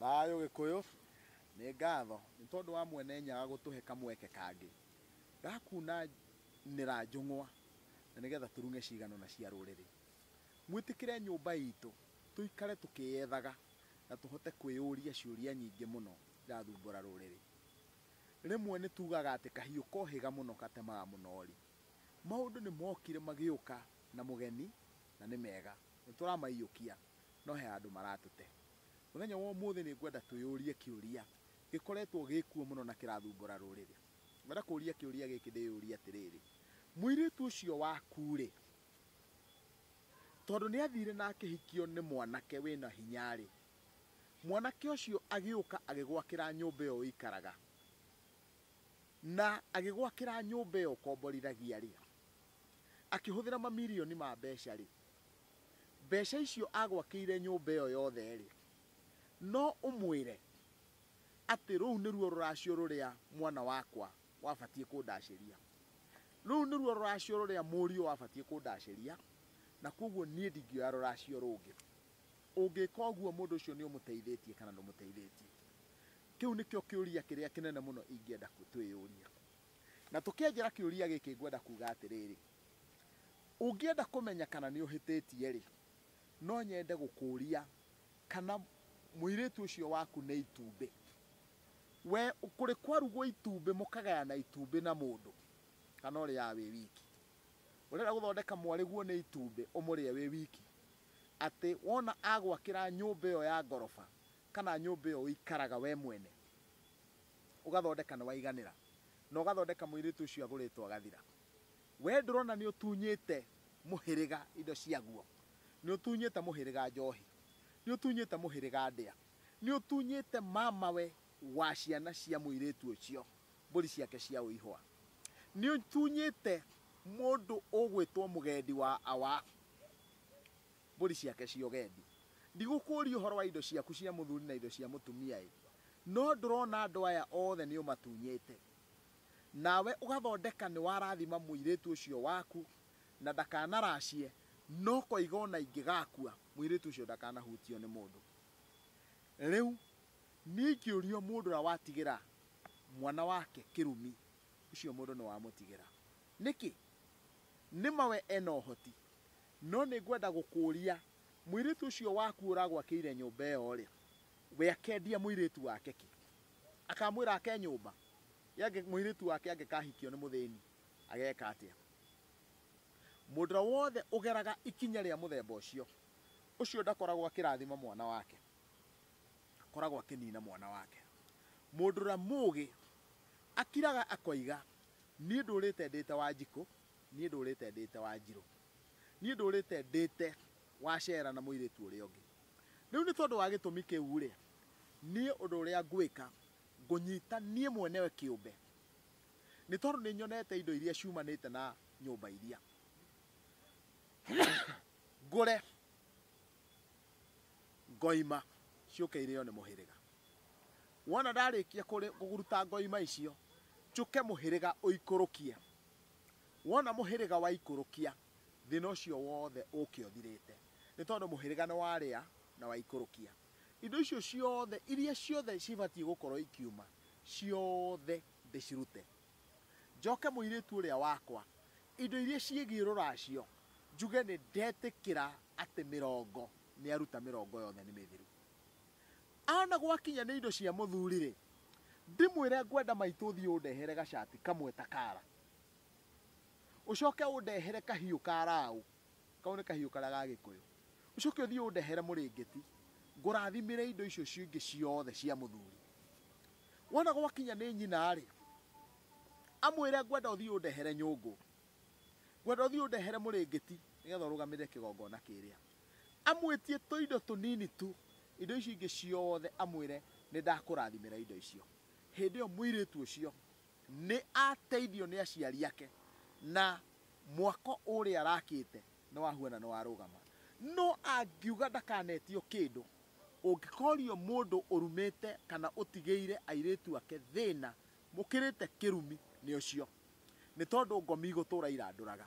Thayũ Gĩkũyũ, Nĩ ngatho nĩ tondũ wa Mwene Nyaga gũtũhe kamweke kangĩ ga kunanĩra njũng'wa na nĩgetha tũrung'e cigano na cia rũrĩrĩ. Mwĩtĩkĩre nyũmba itũ tũikare tũkĩyethaga na tũhote kwĩyũria ciũria nyingĩ mũno irathumbũra rũrĩrĩ. Rĩmwe nĩ tugaga atĩ kahiũ kohĩga mũno gatemaga mũnori. Maũndũ nĩ mokire magĩũka na mũgeni na nĩ mega. Nĩ tũramaiyũkia no he handũ maratũte. Mũthenya wa ũmũthĩ nĩ ngwenda twĩyũrie kĩũria gĩkoretwo gĩ kuo mũno na kĩrathumbũra rũrĩrĩ. Ngwenda kũũria kĩũria gĩkĩ ndĩyũrie atĩrĩrĩ, Mũirĩtu ũcio waku-rĩ, tondũ nĩ athire na akĩhikio nĩ mwanake wĩna hinya-rĩ, mwanake ũcio agĩũka agĩgwakĩra nyũmba ĩyo ũikaraga, na agĩgwakĩra nyũmba ĩyo ũkomborithagia-rĩ, akĩhũthĩra mamirioni ma mbeca-rĩ, mbeca icio agwakĩire nyũmba ĩyo yothe-rĩ, no ũmwĩre atĩ rũu nĩruo rũracio rũrĩa mwana wakwa wabatiĩ kũndacĩria. Rũu nĩruo rũracio rũrĩa mũriũ wabatiĩ kũndacĩria, na kwoguo niĩ ndingĩoya rũracio rũngĩ. Ũngĩka ũguo mũndũ ũcio nĩ ũmũteithĩtie kana ndũmũteithĩtie? Kĩu nĩkĩo kĩũria kĩrĩa kĩnene mũno ingĩenda twĩyũrie. Na tũkĩanjĩra kĩũria gĩkĩ ngwenda kuuga atĩrĩrĩ, Ũngĩenda kũmenya kana nĩ ũhĩtĩtie-rĩ, no nyende gũkũũria kana mũirĩtu ũcio waku nĩ itumbĩ. We kũrĩ kwarugwo itumbĩ mũkagayana itumbĩ na mũndũ kana ũrĩaga wĩ wiki? Ũrenda gũthondeka mwarĩguo nĩ itumbĩ ũmũrĩe wĩ wiki? Atĩ wona agwakĩra nyũmba ĩyo ya ngoroba kana nyũmba ĩyo ũikaraga we mwene, ũgathondeka nĩ waiganĩra na ũgathondeka mũirĩtu ũcio agũrĩtwo agathira? We ndũrona nĩ ũtunyĩte mũhĩrĩga indo ciaguo? Nĩ ũtunyĩte mũhĩrĩga njohi? Nĩ ũtunyĩte mũhĩrĩga ndĩa? Nĩ ũtunyĩte mamawe wa ciana cia mũirĩtu ũcio mbũri ciake cia ũihũa? Nĩ ũtunyĩte mũndũ ũgwĩtwo mũgendi wa awa mbũri ciake cia ũgendi? Ndigũkũũria ũhoro wa indo ciaku cia mũthuri na indo cia mũtumia-ĩ! No ndũrona andũ aya othe nĩ ũmatunyĩte? nawe ũgathondeka nĩ warathima mũirĩtu ũcio waku na ndakanaracie, no koiga o na ingĩgakua, mũirĩtu ũcio ndakanahutio nĩ mũndũ. Rĩu niĩ ingĩũrio mũndũ ũrĩa watigĩra mwana wake kĩrumi, ũcio mũndũ nĩ wamũtigĩra. Nĩkĩ? Nĩ ma we ena ũhoti. No nĩ ngwenda gũkũria, mũirĩtu ũcio waku ũragwakĩire nyũmba ĩyo-rĩ, we akendia mũirĩtu wake kĩ? Akamwĩra ake nyũmba. Ye mũirĩtu wake angĩkahikio nĩ mũthĩni, ageeka atĩa? Mũndũ ũrĩa wothe ũgeraga ikinya rĩa mũthemba ũcio, ũcio ndakoragwo akĩrathima mwana wake, akoragwo akĩniina mwana wake. Mũndũ ũrĩa mũũgĩ akiraga akoiga, Niĩ ndũũrĩte ndĩĩte Wanjikũ, niĩ ndũũrĩte ndĩĩte Wanjirũ, niĩ ndũũrĩte ndĩĩte Wacera na mũirĩtu ũrĩa ũngĩ. Rĩu nĩ tondũ wa gĩtũmi kĩu-rĩ, niĩ ũndũ ũrĩa ngwĩka, ngũnyita niĩ mwenewe kĩũmbe, nĩ tondũ nĩ nyonete indo iria ciumanĩte na nyũmba iria ngũre ngoima ciũke irĩo nĩ mũhĩrĩga. Wona ndarĩkia kũruta ngoima icio, njũke mũhĩrĩga ũikũrũkie. Wona mũhĩrĩga waikũrũkia, Thĩna ũcio wothe ũũke ũthirĩte. Nĩ tondũ mũhĩrĩga nĩ warĩa na waikũrũkia. Indo icio ciothe, iria ciothe cibatiĩ gũkorwo ikiuma, ciothe ndĩcirute. Njoke mũirĩtu ũrĩa wakwa, indo iria ciĩgiĩ rũracio, njuge nĩ ndetĩkĩra atĩ mĩrongo, nĩ aruta mĩrongo yothe nĩ mĩthiru. Ana gwakinya nĩ indo cia mũthuri-rĩ, ndĩmwĩre ngwenda maitũ ũthiĩ ũndehere gacati kamwe ta kara. ũcoke ũndehere kahiũ ka raũ, kau nĩ kahiũ karĩa ga gĩkũyũ, ũcoke ũthiĩ ũndehere mũrĩngĩti, ngũrathimĩre indo icio icio ingĩ ciothe cia mũthuri. Wona gwakinya nĩ nyina-rĩ, amwĩre ngwenda ũthiĩ ũndehere nyũngũ, ngwenda ũthiĩ ũndehere mũrĩngĩti nĩgetha ũrũgamĩrĩre kĩgongona kĩrĩa. Amwĩtie tũindo tũnini tu, indo icio ingĩ ciothe amwĩre nĩndakũrathimĩra indo icio. Hĩndĩ ĩyo mũirĩtu ũcio Nĩ ateithio nĩ aciari ake, na mwako ũrĩa arakĩte nĩ wa huana nĩ warũgama. No angiuga ndakanetio kĩndũ, ũngĩkorio mũndũ ũrumĩte kana ũtigĩire airĩtu ake thĩna mũkĩrĩte kĩrumi nĩ ũcio. Nĩ tondũ ngomi igũtũra irandũraga.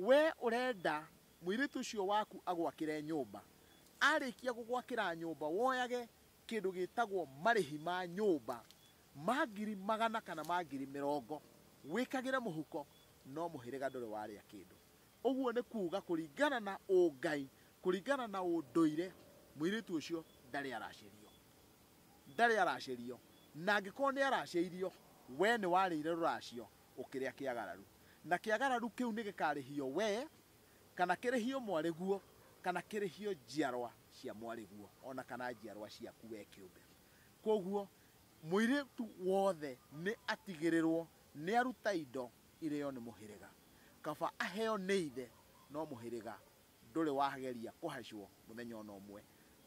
Wee ũrenda mũirĩtu ũcio waku agwakĩre nyũmba, arĩkia gũgwakĩra nyũmba woyage kĩndũ gĩtagwo marĩhi ma nyũmba Ma ngiri magana kana ma ngiri mĩrongo, wĩkagĩre mũhuko, no mũhĩrĩga ndũrĩ warĩa kĩndũ. Ũguo nĩ kuuga kũringana na ũngai, kũringana na ũndũire, mũirĩtu ũcio ndarĩ aracĩrio. Ndarĩ aracĩrio. Na angĩkorwo nĩ aracĩirio, wee nĩ warĩire rũracio ũkĩrĩa kĩagararu. Na kĩagararu kĩu nĩ gĩkarĩhio wee, kana kĩrĩhio mwarĩguo, kana kĩrĩhio njiarwa cia mwarĩguo, o na kana njiarwa ciaku wee kĩũmbe. Kwoguo, Mũirĩtu wothe nĩ atigĩrĩrwo nĩ aruta indo irĩo nĩ mũhĩrĩga, kaba aheo nĩ ithe, no mũhĩrĩga ndũrĩ wageria kũhacwo mũthenya o na ũmwe.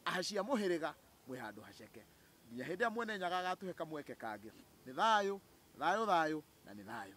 Ahaci a mũhĩrĩga mwĩ handũ haceke, nginya hĩndĩ ĩrĩa Mwene Nyaga agatũhe kamweke kangĩ. Nĩ thayũ, thayũ, thayũ, na nĩ thayũ.